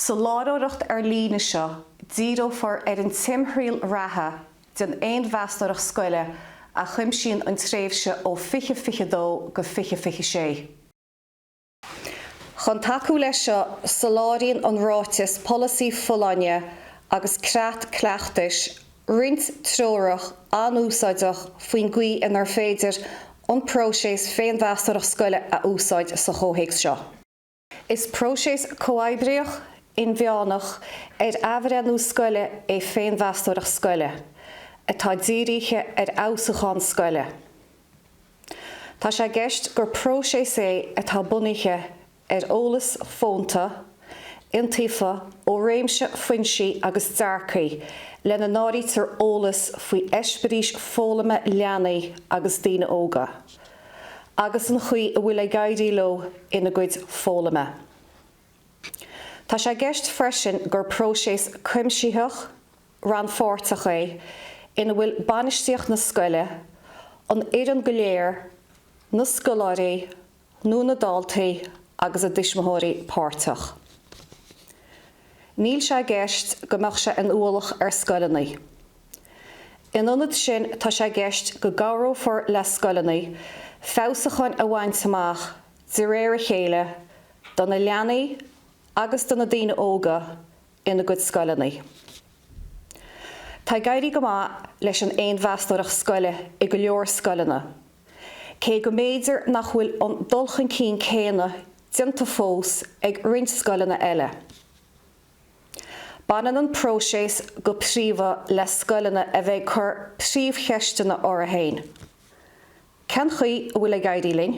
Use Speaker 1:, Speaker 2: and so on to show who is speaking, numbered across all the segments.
Speaker 1: Sa láithreoireacht ar líne seo, díreofar ar an timthriall reatha den fhéinmheastóireacht scoile a chuimsíonn an tréimhse ó 2022 go 2026. Chun tacú leis seo, soláthraíonn an Ráiteas Polasaí Folláine agus Creat Cleachtais roinnt treorach an-úsáideach faoin gcaoi inar féidir an próiseas féinmheastóireacht scoile a úsáid sa chomhthéacs seo. Is próiseas comhoibríoch, inmheánach, ar athbhreithniú scoile é féinmheastóireacht scoile, atá dírithe ar fheabhsúchán scoile. Tá sé i gceist gur próiseas é atá bunaithe ar eolas fónta, iontaofa ó réimse foinsí agus dearcaidh, lena n-áirítear eolas faoi eispéiris foghlama leanaí agus daoine óga. agus an chaoi a bhfuil ag éirí leo ina gcuid foghlama. Tá sé i gceist freisin gur próiseas cuimsitheach, rannpháirteach é ina bhfuil bainistíocht na scoile, an fhoireann go léir, na scoláirí nó na daltaí agus a dtuismitheoirí páirteach. Níl sé i gceist go mbeadh sé ina ualach ar scoileanna. In ionad sin, tá sé i gceist go gcabhrófar le scoileanna feabhsúcháin a bhaint amach de réir a chéile do na leanaí agus do na daoine óga ina gcuid scoileanna. Tá ag éirí go maith leis an fhéinmheastóireacht scoile i go leor scoileanna, cé go mb'fhéidir nach bhfuil an dul chun cinn céanna déanta fós ag roinnt scoileanna eile. Baineann an próiseas go príomha le scoileanna a bheith ag cur príomhcheisteanna orthu féin, Cén chaoi a bhfuil ag éirí linn?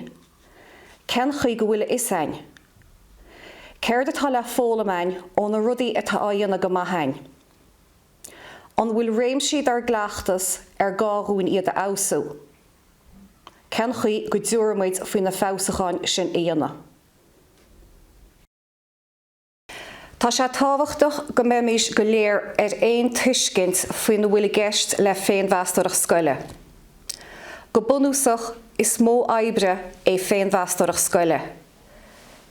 Speaker 1: Cén chaoi go bhfuil a fhios againn? Céard atá le foghlaim againn ó na rudaí atá á dhéanamh go maith againn? An bhfuil réimsí dár gcleachtas ar gá dhúinn iad a fheabhsú? Cén chaoi go dtabharfar muid faoi na feabhsúcháin sin a dhéanamh? Tá sé tábhachtach go mbeimís go léir ar aon tuiscint faoina bhfuil i gceist le féinmheastóireacht scoile. Go bunúsach, is modh oibre é féinmheastóireacht scoile.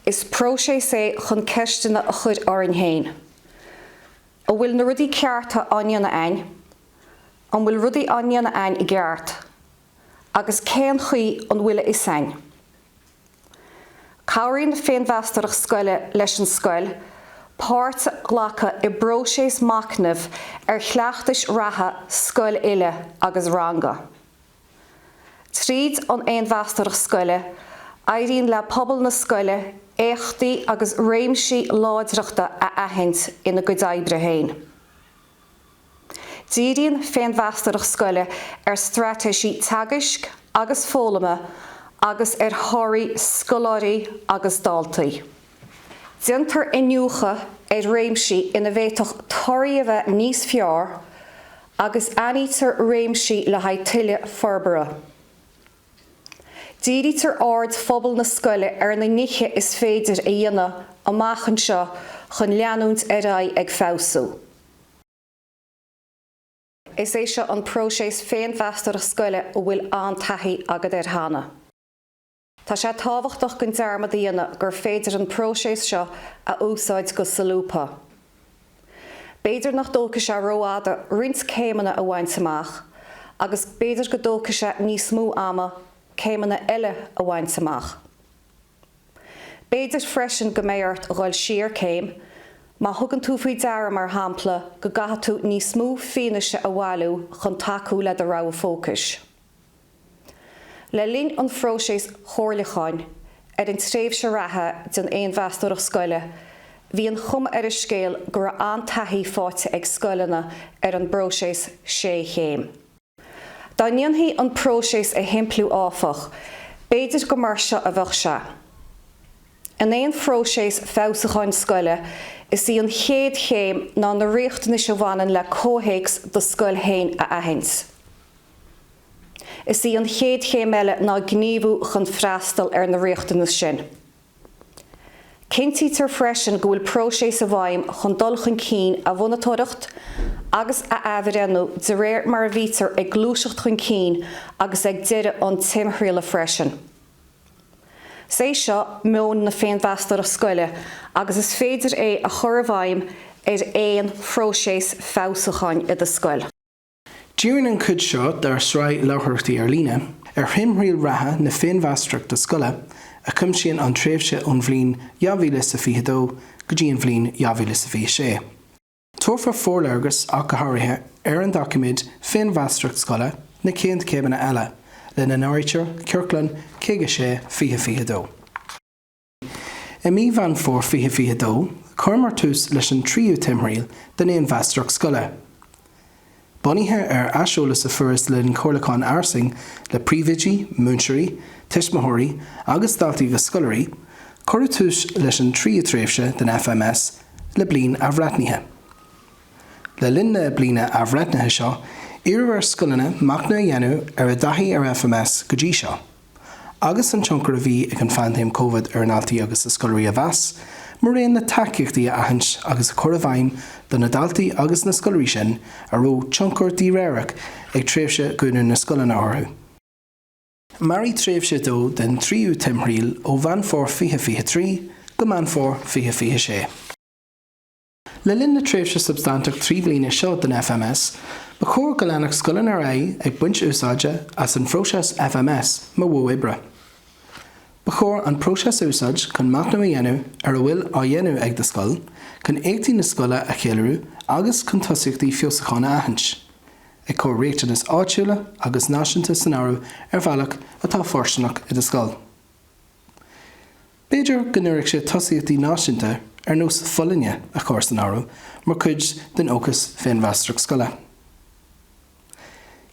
Speaker 1: Is próiseas é chun ceisteanna a chuir orainn féin. An bhfuil na rudaí cearta á ndéanamh ainn? An bhfuil rudaí á ndéanamh ainn i gceart? Agus cén chaoi an bhfuil a fhios ainn? Cabhraíonn an fhéinmheastóireacht scoile leis an scoil páirt a ghlacadh i bpróiseas machnaimh ar chleachtais reatha scoile uile agus ranga. Tríd an fhéinmheastóireacht scoile, éiríonn le pobal na scoile éachtaí agus réimsí láidreachta a aithint ina gcuid oibre féin. Díríonn féinmheastóireacht scoile ar straitéisí teagaisc agus foghlama agus ar thorthaí scoláirí agus daltaí. Déantar iniúchadh ar réimsí ina bhféadfadh torthaí a bheith níos fearr agus aithnítear réimsí le haghaidh tuilleadh forbartha. Dírítear aird phobal na scoile ar na nithe is féidir a dhéanamh amach anseo chun leanúint ar aghaidh ag feabhsú. Is é seo an próiseas féinmheastóireacht scoile a bhfuil an-taithí agat air cheana. Tá sé tábhachtach gan dearmad a dhéanamh gur féidir an próiseas seo a úsáid go solúbtha. B'fhéidir nach dtógfaidh sé rófhada roinnt céimeanna a bhaint amach agus b'fhéidir go dtógfaidh sé níos mó ama céimeanna eile a bhaint amach. B'fhéidir freisin go mbeidh ort a dhul siar céim má thugann tú faoi deara, mar shampla, go gcaithfidh tú níos mó fianaise a bhailiú chun tacú le do rogha fócais. Le linn an phróiseas chomhairliúcháin ar an tréimhse reatha den fhéinmheastóireacht scoile, bhí an chuma ar an scéal go raibh an-taithí faighte ag scoileanna ar an bpróiseas sé chéim. Dá ndéanfaí an próiseas a shimpliú áfach, b'fhéidir gur mar seo a bheadh sé. In aon phróiseas feabhsúcháin scoile, is í an chéad chéim ná na riachtanais a bhaineann le comhthéacs do scoil féin a aithint. Is í an chéad chéim eile ná gníomhú chun freastal ar na riachtanais sin. Cinntítear freisin go bhfuil próiseas i bhfeidhm chun dul chun cinn a mhonatóireacht agus a athbhreithniú de réir mar a bhítear ag gluaiseacht chun cinn agus ag deireadh an timthrialla freisin. Is é seo meon na féinmheastóireacht scoile agus is féidir é a chur i bhfeidhm ar aon phróiseas feabhsúcháin i do scoil. Díríonn
Speaker 2: an chuid seo dár sraith láithreoireachtaí ar líne ar thimthriall reatha na féinmheastóireachta scoile a chuimsíonn an tréimhse ón bhliain 2022 go dtí an bhliain 2026. Tabharfar forléargas ach go háirithe ar an doiciméad Féinmheastóireacht Scoile, na chéad chéimeanna eile, lena n-áirítear Ciorclán 56, 2022. I mí Mheán Fómhair 2022, chuireamar tús leis an tríú timthriall den Fhéinmheastóireacht Scoile. Bunaithe ar aiseolas a fuarthas le linn comhairliúcháin fhairsing le príomhoidí, múinteoirí, tuismitheoirí agus daltaí agus scoláirí, cuireadh tús leis an tríú tréimhse den FMS le Bliain Athbhreithnithe. Le linn na Bliana Athbhreithnithe seo, iarradh ar scoileanna machnamh a dhéanamh ar a dtaithí ar FMS go dtí seo. agus an tionchar a bhí ag an phaindéim Covid ar a ndaltaí agus a scoláirí a mheas, maraon le tacaíochtaí a aithint agus a chur i bhfeidhm do na daltaí agus na scoláirí sin a raibh tionchar díréireach ag tréimhse dhúnadh na scoileanna orthu. Mairfidh tréimhse a dó den tríú timthriall, ó Mheán Fómhair 2023 go Meán Fómhair 2026, Le linn na tréimhse substaintí trí bliana seo den FMS, ba chóir go leanfadh scoileanna ar aghaidh ag baint úsáide as an phróiseas FMS mar mhodh oibre. Ba chóir an próiseas a úsáid chun machnamh a dhéanamh ar a bhfuil á dhéanamh ag do scoil, chun éachtaí na scoile a cheiliúradh agus chun tosaíochtaí feabhsúcháin a aithint, ag cur riachtanais áitiúla agus náisiúnta san áireamh ar bhealach atá fóirsteanach i do scoil. B'fhéidir go n-oirfeadh sé tosaíochtaí náisiúnta ar nós folláine a chur san áireamh mar chuid den fhócas féinmheastóireacht scoile.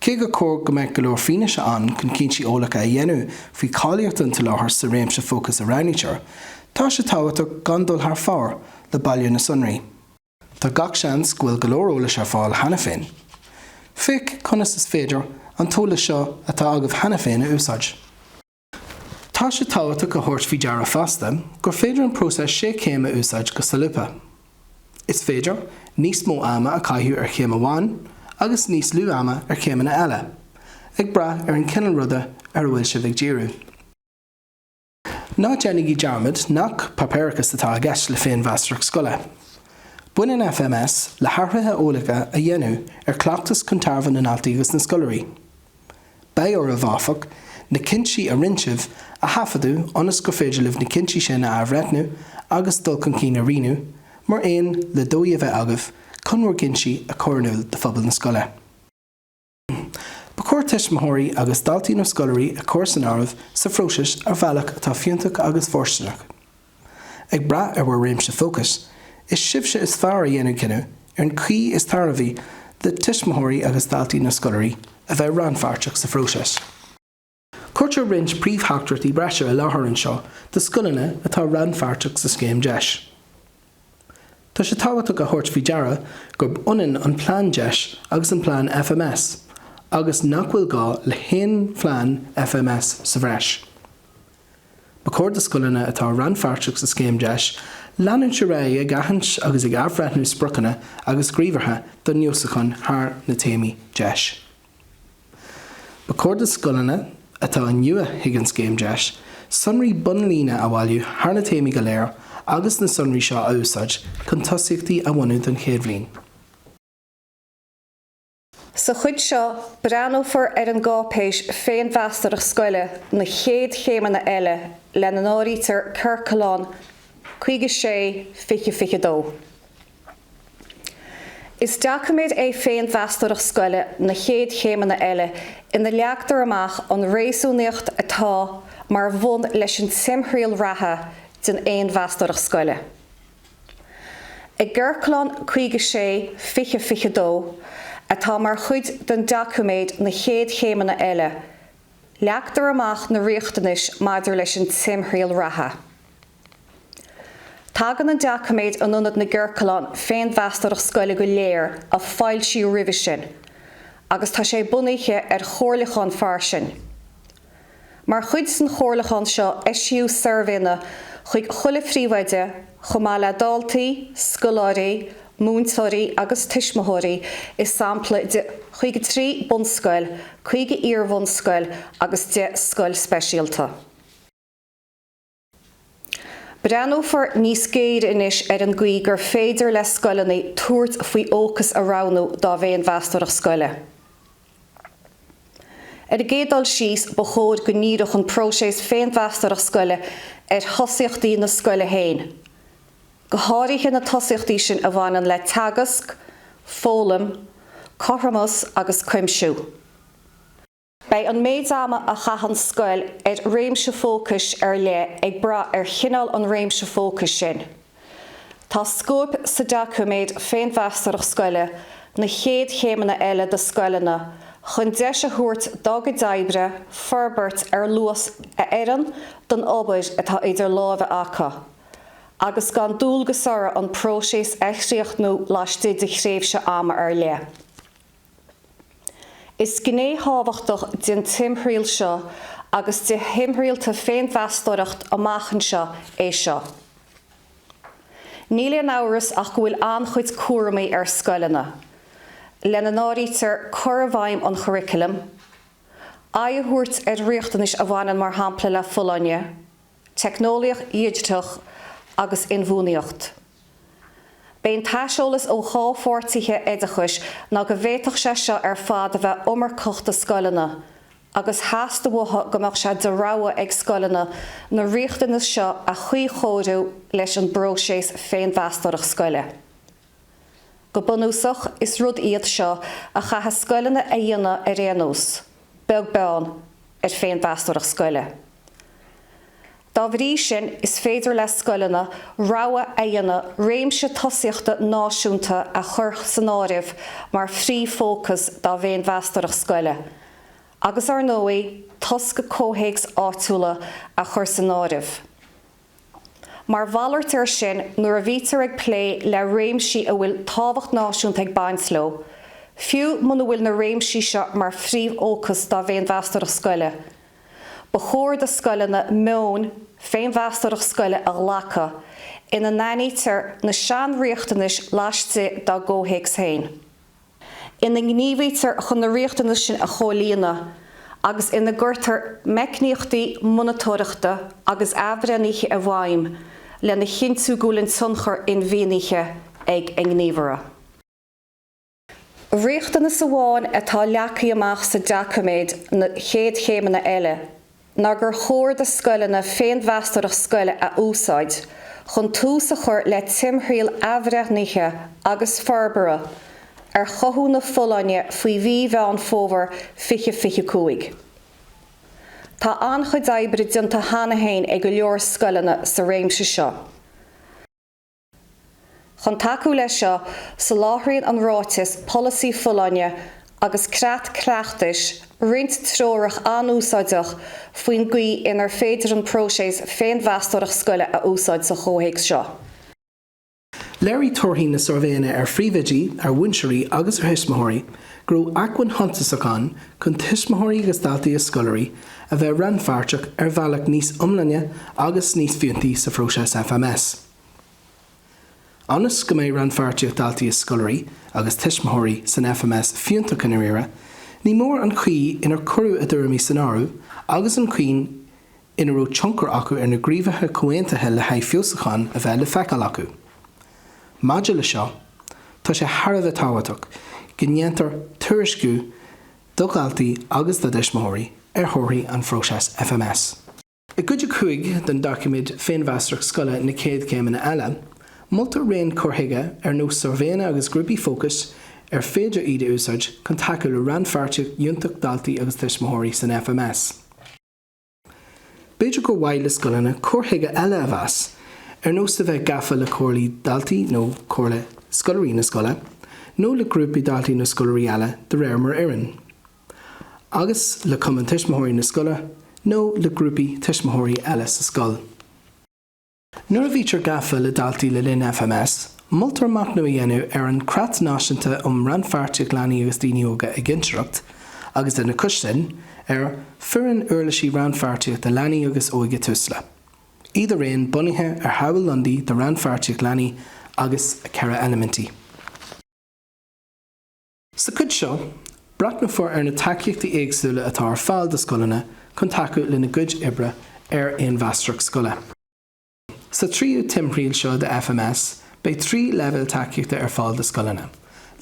Speaker 2: Cé gur cóir go mbeadh go leor fianaise ann chun cinntí eolacha a dhéanamh faoi cháilíocht an tsoláthair sa réimse fócais a roghnaítear, tá sé tábhachtach gan dul thar fóir le bailiú na sonraí. Tá gach seans go bhfuil go leor eolais ar fáil cheana féin. Féach conas is féidir an t-eolas seo atá agaibh cheana féin a úsáid. Tá sé tábhachtach a thabhairt faoi deara fosta gur féidir an próiseas sé chéim a úsáid go solúbtha. Is féidir níos mó ama a chaitheamh ar chéim amháin agus níos lú ama ar chéimeanna eile, ag brath ar an chineál ruda ar a bhfuil sibh ag díriú. Ná déanaigí dearmad nach páipéarachas atá i gceist le féinmheastóireacht scoile. Baineann FMS le hathruithe eolacha a dhéanamh ar chleachtas chun tairbhe na ndaltaí agus na scoláirí. Beidh oraibh, áfach, na cinntí a rinne sibh a thaifeadadh ionas gur féidir libh na cinntí sin a athbhreithniú agus dul chun cinn a rianú, mar aon le dóigh a bheith agaibh chun bhur gcinntí a chur in iúl do phobal na scoile. Ba chóir tuismitheoirí agus daltaí nó scoláirí a chur san áireamh sa phróiseas ar bhealach atá fiúntach agus fóirsteanach. Ag brath ar bhur réimse fócais, is sibhse is fearr a dhéanfaidh cinneadh ar an chaoi is tairbhí do tuismitheoirí agus daltaí nó scoláirí a bheith rannpháirteach sa phróiseas. Cuirtear roinnt príomhtheachtaireachtaí breise i láthair anseo do scoileanna atá rannpháirteach sa scéim deis. Tá sé tábhachtach a thabhairt faoi deara gurb ionann an plean deis agus an plean FMS agus nach bhfuil gá le haon phlean FMS sa bhreis. Ba chóir do scoileanna atá rannpháirteach sa scéim deis leanúint ar aghaidh ag aithint agus ag athbhreithniú spriocanna agus gníomhartha don fheabhsúchán thar na téamaí deis. Ba chóir do scoileanna atá nua chuig an scéim deis sonraí bonnlíne a bhailiú thar na téamaí go léir agus na sonraí seo a úsáid chun tosaíochtaí a bhunú don chéad bhliain.
Speaker 1: Sa chuid seo, breathnófar ar an gcáipéis 'Féinmheastóireacht Scoile, Na Chéad Chéimeanna Eile', lena n-áirítear Ciorclán 56, 20, 22. Is doiciméad é Féinmheastóireacht Scoile, Na Chéad Chéimeanna Eile ina leagtar amach an réasúnaíocht atá mar bhun leis an timthriall reatha den fhéinmheastóireacht scoile. I gCiorclán 56, 20, 22, atá mar chuid den doiciméad Na Chéad Chéimeanna Eile, leagtar amach na riachtanais maidir leis an timthriall reatha. Tagann an doiciméad in ionad na gciorclán féinmheastóireacht scoile go léir a foilsíodh roimhe sin agus tá sé bunaithe ar chomhairliúchán fairsing. Mar chuid den chomhairliúchán seo eisíodh suirbhéanna chuig chuile phríomhoide chomh maith le daltaí, scoláirí, múinteoirí agus tuismitheoirí i sampla de chaoga trí bunscoil, caoga iarbhunscoil agus deich scoil speisialta. Breathnófar níos géire anois ar an gcaoi gur féidir le scoileanna tabhairt faoi fhócas a roghnú dá bhféinmheastóireacht scoile. Ar an gcéad dul síos, ba chóir go ndíreodh an próiseas féinmheastóireacht scoile ar thosaíochtaí na scoile féin, go háirithe na tosaíochtaí sin a bhaineann le teagasc, foghlaim, cothromas agus cuimsiú. Beidh an méid ama a chaitheann scoil ar réimse fócais ar leith ag brath ar chineál an réimse fócais sin. Tá scóip sa doiciméad Féinmheastóireacht Scoile, Na Chéad Chéimeanna Eile do scoileanna chun deis a thabhairt dá gcuid oibre forbairt ar luas a oireann don obair atá idir láimhe acu agus gan dualgas orthu an próiseas a chríochnú laistigh de thréimhse ama ar leith. Is gné thábhachtach den timthriall seo agus de thimthriallta féinmheastóireacht amach anseo é seo. Níl aon amhras ach go bhfuil an-chuid cúramaí ar scoileanna, lena n-áirítear cur i bhfeidhm an churriculum, aghaidh a thabhairt ar riachtanais a bhaineann mar shampla le folláine, Teicneolaíocht Dhigiteach agus Inbhuanaitheacht. B'é an t-aiseolas ó chomhpháirtithe oideachais ná go bhféadfadh sé seo ar fad a bheith iomarcach do scoileanna, agus theastaigh uathu go mbeadh sé de rogha ag scoileanna na riachtanais seo a chuíchóiriú leis an bpróiseas féinmheastóireacht scoile. Go bunúsach, is rud iad seo a chaithfidh scoileanna a dhéanamh ar aon nós, beag beann ar féinmheastóireacht scoile. Dá bhrí sin, is féidir le scoileanna rogha a dhéanamh réimse tosaíochta náisiúnta a chur san áireamh mar phríomhfhócas dá bhféinmheastóireacht scoile, agus ar ndóigh, tosca comhthéacs áitiúla a chur san áireamh. Mar mhalairt air sin, nuair a bhítear ag plé le réimsí a bhfuil tábhacht náisiúnta ag baint leo, fiú muna bhfuil na réimsí seo mar phríomhfhócas dá bhféinmheastóireacht scoile, ba chóir do scoileanna meon féinmheastóireacht scoile a ghlacadh ina n-aithnítear na sainriachtanais laistigh dá gcomhthéacs féin. ina ngníomhaítear chun na riachtanais sin a chomhlíonadh agus ina gcuirtear meicníochtaí monatóireachta agus athbhreithnithe i bhfeidhm lena chinntiú go bhfuil an tionchar inmhianaithe ag a ngníomhartha. Riachtanas amháin atá leagtha amach sa doiciméad na chéad chéimeanna eile. ná gur chóir do scoileanna féinmheastóireacht scoile a úsáid chun tús a chur le timthriall athbhreithnithe agus forbartha ar chothú na folláine faoi mhí Mheán Fómhair 2025. Tá an-chuid oibre déanta cheana féin ag go leor scoileanna sa réimse seo. Chun tacú leis seo, soláthraíonn an Ráiteas Polasaí Folláine agus Creat Cleachtais roinnt treorach an-úsáideach faoin gcaoi inar féidir an próiseas féinmheastóireacht scoile a úsáid sa chomhthéacs seo.
Speaker 2: Léirigh torthaí na suirbhéanna ar phríomhoidí, ar mhúinteoirí agus ar thuismitheoirí go raibh acmhainn shuntasach ann chun tuismitheoirí agus daltaí is scoláirí a bheith rannpháirteach ar bhealach níos iomláine agus níos fiúntaí sa phróiseas FMS. Ionas go mbeidh rannpháirtíocht daltaí is scoláirí agus tuismitheoirí san FMS fiúntach i ndáiríre, ní mór an chaoi inar cuireadh a dtuairimí san áireamh agus an chaoi ina raibh tionchar acu ar na gníomhartha comhaontaithe le haghaidh feabhsúcháin a bheith le feiceáil acu. Maidir leis seo, tá sé thar a bheith tábhachtach go ndéantar tuairisciú do dhaltaí agus do thuismitheoirí ar thorthaí an phróiseas FMS. I gCuid 5 den doiciméad Féinmheastóireacht Scoile, Na Céad Chéimeanna Eile, moltar raon cur chuige ar nós suirbhéanna agus grúpaí fócais ar féidir iad a úsáid chun tacú le rannpháirtíocht fhiúntach daltaí agus tuismitheoirí san FMS. B'fhéidir gur mhaith le scoileanna cur chuige eile a mheas, ar nós a bheith gafa le comhairlí daltaí nó comhairle scoláirí na scoile, nó le grúpaí daltaí nó scoláirí eile, de réir mar a oireann. agus le Cumann Tuismitheoirí na scoile nó le grúpaí tuismitheoirí eile sa scoil. Nuair a bhítear gafa le daltaí le linn FMS, moltar machnamh a dhéanamh ar an gCreat Náisiúnta um Rannpháirtíocht Leanaí agus Daoine Óga i gCinnteoireacht agus, lena chois sin, ar Foireann Uirlisí Rannpháirtíochta Leanaí agus Óige Tusla, iad araon bunaithe ar Shamhail Lundy de Rannpháirtíocht Leanaí agus a ceithre eilimintí. Sa chuid seo, breathnófar ar na tacaíochtaí éagsúla atá ar fáil do scoileanna chun tacú lena gcuid oibre ar fhéinmheastóireacht scoile. Sa tríú timthriall seo de FMS, beidh trí leibhéal tacaíochta ar fáil do scoileanna,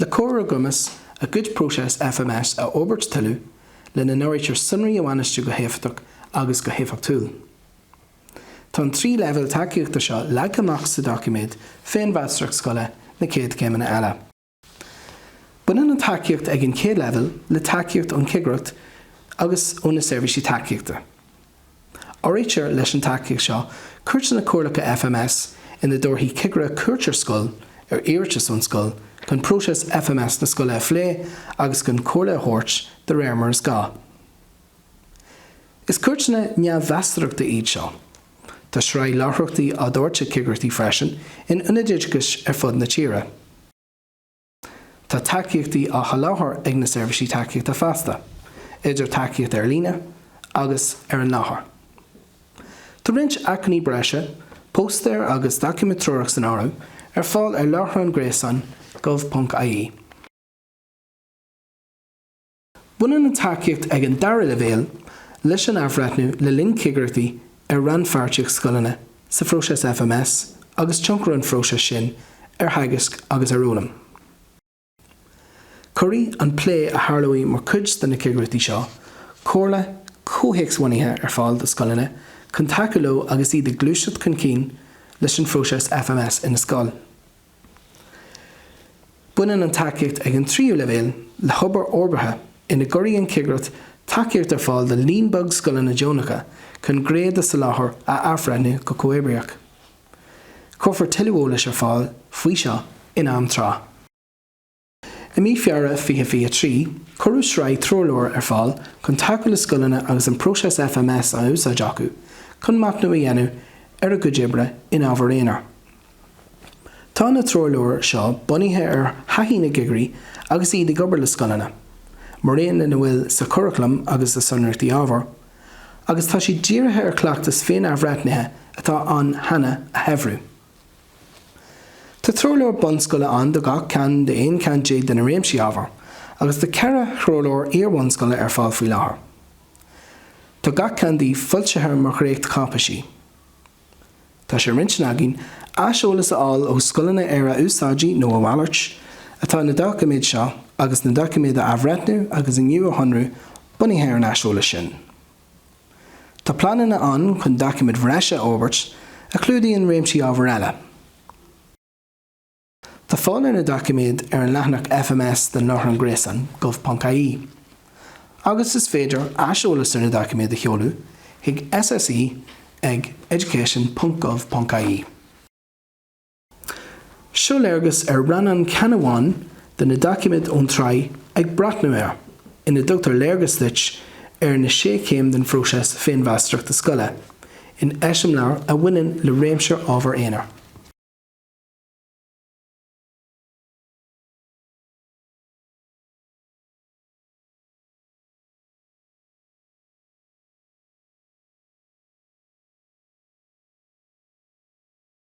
Speaker 2: le cur lena gcumas a gcuid próiseas FMS a fhorbairt tuilleadh, lena n-áirítear sonraí a bhainistiú go héifeachtach agus go héifeachtúil. Tá an trí leibhéal tacaíochta seo leagtha amach sa doiciméad Féinmheastóireacht Scoile, na céad chéimeanna eile. Baineann an tacaíocht ag an chéad leibhéal le tacaíocht ón Chigireacht agus ó na Seirbhísí Tacaíochta. Áirítear leis an tacaíocht seo cuairteanna comhairleacha FMS ina dtabharfaidh cigire cuairt ar scoil ar iarratas ón scoil chun próiseas FMS na scoile a phlé agus chun comhairle a thabhairt de réir mar is gá. Is cuairteanna neamh-mheastóireachta iad seo. Tá sraith láithreachtaí á dtabhairt ag cigireachtaí freisin in ionaid oideachais ar fud na tíre. Tá tacaíochtaí á sholáthar ag na Seirbhísí Tacaíochta fosta, idir tacaíocht ar líne agus ar an láthair. Tá roinnt acmhainní breise, póstaeir agus doiciméad treorach san áireamh, ar fáil ar láithreán gréasáin gov.ie. Baineann an tacaíocht ag an dara leibhéal leis an athbhreithniú le linn cigireachtaí ar rannpháirtíocht scoileanna sa phróiseas FMS agus tionchar an phróisis sin ar theagasc agus ar fhoghlaim. Cuirfidh an plé a tharlóidh mar chuid de na cigireachtaí seo comhairle comhthéacs-bhunaithe ar fáil do scoileanna chun tacú leo agus iad ag gluaiseacht chun cinn leis an phróiseas FMS ina scoil. Baineann an tacaíocht ag an tríú leibhéal le hobair fhorbartha ina gcuirfidh an cigireacht tacaíocht ar fáil do líon beag scoileanna deonacha chun gné dá soláthar a athbhreithniú go comhoibríoch. Cuirfear tuilleadh eolais ar fáil faoi seo in am tráth. I mí Feabhra 2023, cuireadh sraith treoirleabhar ar fáil chun tacú le scoileanna agus an próiseas FMS á úsáid acu chun machnamh a dhéanamh ar a gcuid oibre in ábhair aonair. Tá na treoirleabhair seo bunaithe ar thaithí na gcigirí agus iad ag obair le scoileanna, maraon lena bhfuil sa churaclam agus sna sonraíochtaí ábhair, agus tá siad dírithe ar chleachtas féin-athbhreithnithe atá ann cheana a shaibhriú. Tá treoirleabhar bunscoile ann do gach ceann d'aon cheann déag de na réimsí ábhair, agus tá ceithre threoirleabhar iar-bhunscoile ar fáil faoi láthair. Tá gach ceann díobh foilsithe mar dhréachtcháipéisí. Tá sé ar intinn againn aiseolas a fháil ó scoileanna ar a úsáidí, nó a mhalairt, atá na doiciméid seo, agus na doiciméid a athbhreithniú agus iad a shonrú bunaithe ar an aiseolas sin. Tá pleananna ann chun doiciméid bhreise a fhorbairt a chlúdaíonn réimsí ábhair eile. Tá fáil ar na doiciméid ar an leathanach FMS den láithreán gréasáin gov.ie agus is féidir aiseolas ar na doiciméid a sheoladh chuig SSE ag education.gov.ie. Seo léargas ar rannán ceann amháin de na doiciméid ón tsraith Ag Breathnú Ar, ina dtugtar léargas duit ar na sé chéim den phróiseas féinmheastóireachta scoile, in eiseamláir a bhaineann le réimse ábhar aonair.